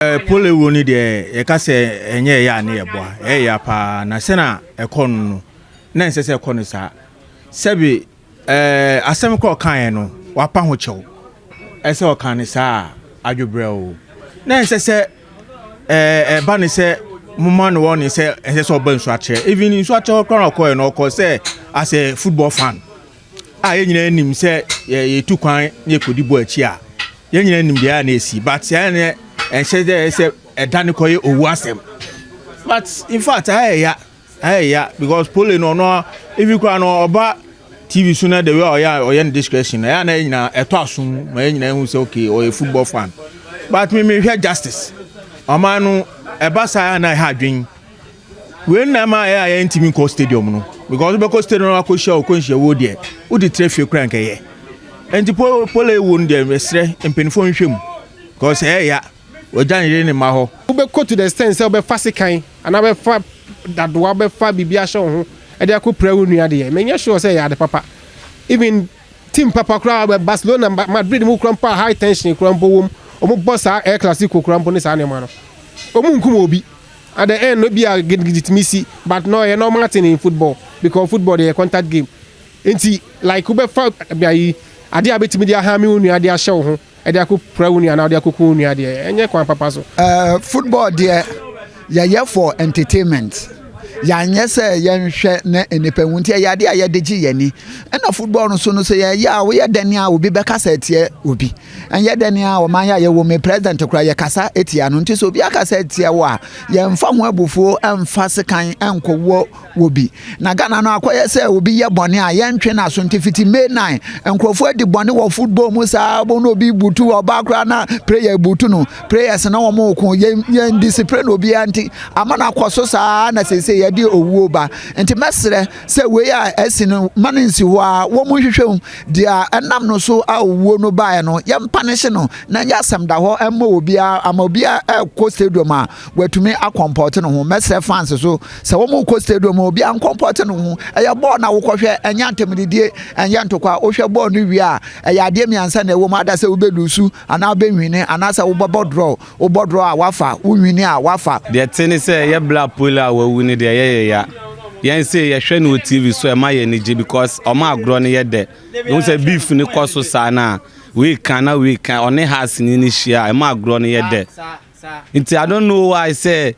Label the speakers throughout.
Speaker 1: Eh, pole wuro no deɛ yɛka sɛ ɛnyɛ ɛyɛ a ne yɛboa ɛyɛ ya paa na sɛ na ɛkɔ no no na ɛnsɛ sɛ ɛkɔ no saa sɛbi eh, asɛm korɔ ɔkaeɛ no wapa ho kyɛw ɛsɛ ɔka no saa adwobrɛ o na ɛnsɛ sɛ eh, ɛba ne sɛ moma no wɔ ne sɛ ɛnsɛ sɛ ɔba nsu akyerɛ even nsu akyerɛ hɔ koraa na ɔkɔɛ no ɔkɔ sɛ as a football fan a yɛn nyinaa nim sɛ yɛtu kwan na yɛkɔdi bɔ akyi a yɛn nyinaa nim deɛ a na ɛsi but saa ne ɛnhyɛ dɛ sɛ ɛda ne kɔyɛ owu asɛm but in fact ayɛ ya ayɛ ya because pole no ɔno ebi koraa no ɔba tv so na the way ɔyɛ ɔyɛ ne discretion na ɛyɛ na yɛn nyinaa ɛtɔ asom ma yɛn nyinaa ehu sɛ okay ɔyɛ football fan but me mehwɛ justice ɔman no ɛba saa na ɛha adwene Wei na ɛma ɛyɛ a yɛntumi nkɔ stadium no because wobɛkɔ stadium no akɔhyia wo kɔnhyia wo deɛ wode tire fie kora nkɛyɛ nti pole wo no deɛ ɛserɛ mpanimfoɔ nhwɛ mu because ɛyɛ ya wɔgya ne yere ne mma hɔ. Wobɛkɔ to the extent sɛ wobɛfa sekan anaa wobɛfa dadoa wobɛfa biribi ahyɛ wo ho de akɔpira wo nua deɛ menyɛ sure sɛ ɛyɛ ade papa even team papa koraa Barcelona Madrid mu koraa mpo a high tension koraa mpo wom wɔbɔ saa El Clasico koraa mpo ne saa nneɛma no wɔnkum obi At the end no bi a gidigidi tumi si but no ɛyɛ normal thing in football because football deɛ yɛ contact game nti like wobɛfa ayi adeɛ a bɛtumi de ahame wo nua de ahyɛ wo ho ɛde akɔ pira wo nua anaa wode akɔku wo nua deɛ ɛnyɛ kwan papa so. Uh, football deɛ
Speaker 2: yɛyɛ for entertainment yɛanyɛ sɛ yɛnhwɛ na nnipa hu nti ɛyɛ adeɛ a yɛde gye yɛn ani ɛna football no so no sɛ yɛyɛ a woyɛ dɛn a obi bɛka sɛ ɛteɛ obi Ɛnyɛ dɛ nea ɔman yi a yɛwɔ mu yi, president koraa yɛkasa tia no. Nti sɛ obi akasa atia wo a, yɛmfa ho abufuo mfa sekan nkɔwɔ wɔ bi. Na Ghana no akɔyɛ sɛ obi yɛ bɔne a, yɛntwe n'aso. Nti fiti May 9, nkurɔfoɔ adi bɔne wɔ football mu saa ara, na obi butu ɔbaa koraa na prayer butu no, prayers na wɔreko. Yɛn, yɛn discipline obiara nti ama no akɔ so saa ara na seesei yɛde owuo ba. Nti mɛsrɛ sɛ wei a asi no, ma no nsi hɔ ara, wɔnhwehwɛ mu. Deɛ ɛnam no so a owuo no baeɛ no, yɛmpanehye no na ɛnyɛ asɛm da hɔ mma obiara. Ama obiara rekɔ stadium a, watumi akɔmpɔte ne ho. Mɛsrɛ fans nso sɛ wɔrekɔ stadium a, obiara nkɔmpɔte ne ho. Ɛyɛ bɔɔl na wokɔhwɛ, ɛnyɛ antammudidie, ɛnyɛ ntokwa. Wohwɛ bɔɔl no wie a, ɛyɛ adeɛ mmiɛnsa na ɛwɔ mu, either sɛ wobɛluusu anaa wobɛwini anaasɛ wobɛbɔ draw. Wo bɔdorɔ a wafa, wo nwini a wafa. Deɛ ɛte ne sɛ yɛ
Speaker 3: bla Apollo a wawu no deɛ ɛyɛ yɛ ya. Yɛn sei yɛhwɛ no wɔ TV so a ɛma yɛn ani gye because wɔn agorɔ no yɛ dɛ. Wohu sɛ beef no kɔ so saa no a week a na week a ɔne Haasni no hyia a ɛma agorɔ no yɛ dɛ. Nti I don't know why sɛ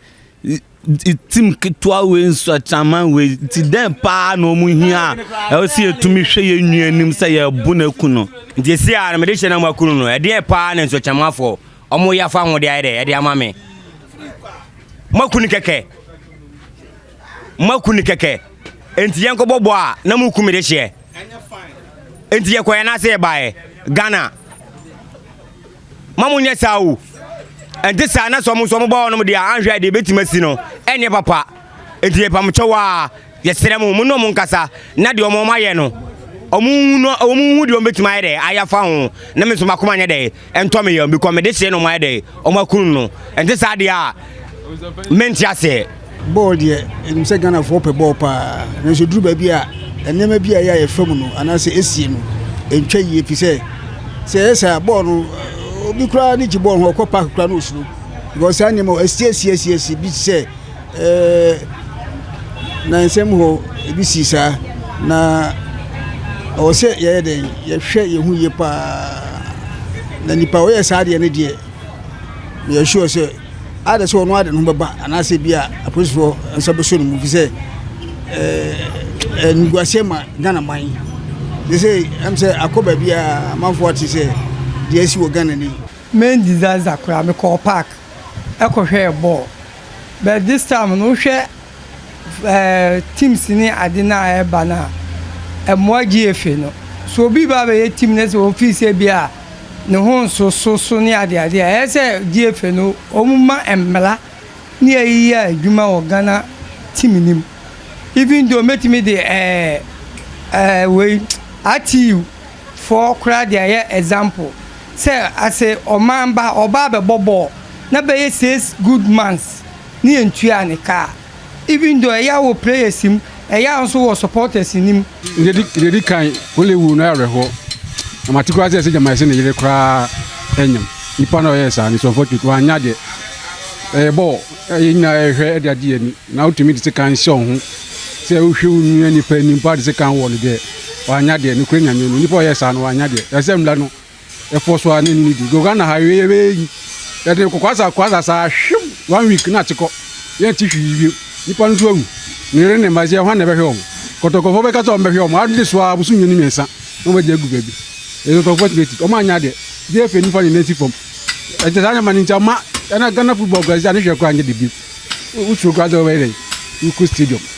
Speaker 3: Team ketewa wei nso atraman wei nti dɛn paa na wɔn hia a ɛwɔ sɛ yɛtumi hwɛ yɛn nua anim sɛ yɛbu no aku no. Nti esi a na mede hyɛ
Speaker 4: na moaku no no ɛdeɛn paa na nsuakyerɛmafoɔ wɔn yɛ afa ho de ayɛ dɛ ɛde ama me. Moaku no kɛkɛ moaku no kɛkɛ nti yɛn kɔbɔ bɔ a na moku me de hyɛ nti yɛkɔɛ na ase yɛbaeɛ Ghana. ma mo nyɛ saa o. Ɛnte saa na sɛ ɔmo nso ɔmo ba hɔnom deɛ a anhwɛ a deɛ ebetumi asi no ɛnyɛ papa. Enti ɛpamokyɛw a yɛsrɛ mo mo ne ɔmo nkasa na deɛ ɔmo ɔmo ayɛ no ɔmo nhu no ɔmo nhu deɛ ɔmo betumi ayɛ dɛ ayɛ afa ho na me nso m'akoma nyɛ dɛ ɛntɔ me yam bikɔ mede hyɛ na ɔmo ayɛ dɛ ɔmo akunu no. Ɛnte saa deɛ a mente aseɛ. Bɔɔl deɛ
Speaker 5: ɛnim sɛ Ghanafoɔ pɛ bɔɔl paa nanso duru baabi a nneɛma bi a ɛyɛ a yɛfa mu no anaasɛ ɛsie no ɛntwa yie fi sɛ sɛ ɛyɛ saa bɔɔl no obi koraa ne gye bɔɔl ho ɔkɔ park koraa no ɔsuro because saa nneɛma ɛsie ɛsie ɛsie ɛsie bi sɛ ɛɛ na nsɛm hɔ ebi si saa na ɔwɔ sɛ yɛyɛ dɛn yɛhwɛ yɛn ho yie paa na nipa ɔyɛ saa deɛ no deɛ yɛsure sɛ Ayɛ dɛ sɛ ɔno ara de ne ho bɛba anaasɛ bi a apolisifoɔ nsa bɛsɔ ne mu fi sɛ animguaseɛ ma Ghana man. Sɛ sɛ ɛm sɛ akɔ baabi a amanfoɔ ate sɛ deɛ asi wɔ Ghana ni. Me Ndizanza
Speaker 6: koraa me kɔɔ park ɛkɔ hwɛɛ bɔɔl but this time no wo hwɛ ɛɛ teams ne ade no a ɛba no a ɛmoa gyeefe no so obi ba abɛyɛ team no sɛ ɔfii sɛ bi a. no ho nsoso so ne adeade a ɛyɛ sɛ di efe no ɔmu ma mmra ne ayi yɛ adwuma wɔ Ghana tim no mu even though mɛtumi de ɛɛ ɛɛ wei RTU foɔ koraa de ayɛ example sɛ as a ɔman ba ɔbaa bɛbɔ bɔɔl na bɛyɛ six good months ne yɛntua ne ka a. Even though ɛyɛ a wɔ players mu, ɛyɛ a nso wɔ supporters no mu. Deɛ ɛdi kan,
Speaker 7: Conley wuo no ayɛ awerɛhoɔ. Na mate koraa sɛ ɛsɛ Gyama se ne yere koraa anyam. Nipa no a ɔyɛɛ saa no, it's unfortunate. Wanyɛ adeɛ. Ɛyɛ bɔɔl a yɛn nyinaa yɛhwɛ de agye yɛn ani. Na wotumi de sekan hyɛ wo ho sɛ wohwɛ wo nua nipa anim paa de sekan wɔ no deɛ, wanyɛ adeɛ. Nokorɛ Nyame no, nipa a ɔyɛɛ saa no, wanyɛ adeɛ. Ɛsɛ sɛ mmra no, Ɛfɔ so a ne ne di. Goga na ha yɛ yɛ bɛyɛ yi. Yɛde nkokwaasa kwaasa saa hwim one week na ate kɔ. Yɛn ti hwi yi bio. Nipa no nso awu. Ne yere ne mma sɛ hwan na ɛbɛhwɛ wɔn. Kɔtɔkɔfoɔ bɛka sɛ wɔn bɛhwɛ wɔn. Ade so a boso mmienu mmiɛnsa na wɔn agye agu baabi. Ɛtɔtɔfoɔ tumi ti. Wɔn anyɛ adeɛ. Gye afei nifa ne nan si fam. Ɛnkyɛ saa nneɛma no nti ama ɛna Ghana football kura sɛ ne hwɛ kura nyɛ de bio. Wosuro kura sɛ wɔbɛyɛ dɛ. Wokɔ stadium.